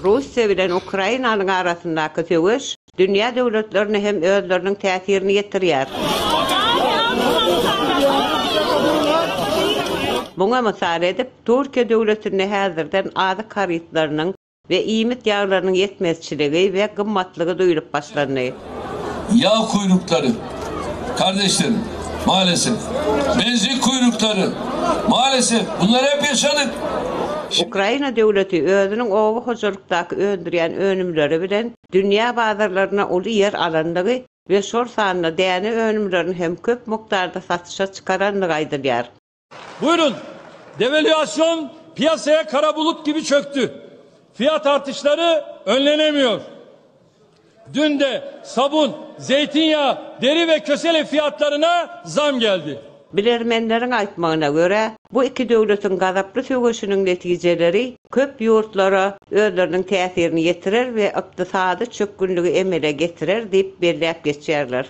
Russiýa bilen Ukrainanyň arasyndaky söweş dünýä döwletlerine hem özleriniň täsirini ýetirýär. Muňa mysal edip, Türkiýe döwletinde häzirden azyk harytlarynyň We iýmit ýaglarynyň ýetmezçiligi we gymmatlygy duýlup başlandy. Ýag kuýruklary, kardeşlerim, malesef. Benzin kuýruklary, malesef, bunlary hep ýaşadyk. Ukraina döwleti özüniň oba hojalykdaky öndürýän önümleri bilen dünýä bazarlarynda uly ýer alandygy we şol sanda däne önümlerini hem köp mukdarda satyşa çykarandygy aýdylýar. Buyurun. Devalüasyon piyasaya kara bulut gibi çöktü. Fiyat artışları önlenemiyor. Dün de sabun, zeytinyağı, deri ve kösele fiyatlarına zam geldi. Bilermenleriň aýtmagyna görä, bu iki döwletiň gazaply söweşiniň netijeleri köp ýurtlara özleriniň täsirini ýetirer we ykdysady çökgünligi emele getirer diýip belläp geçýärler.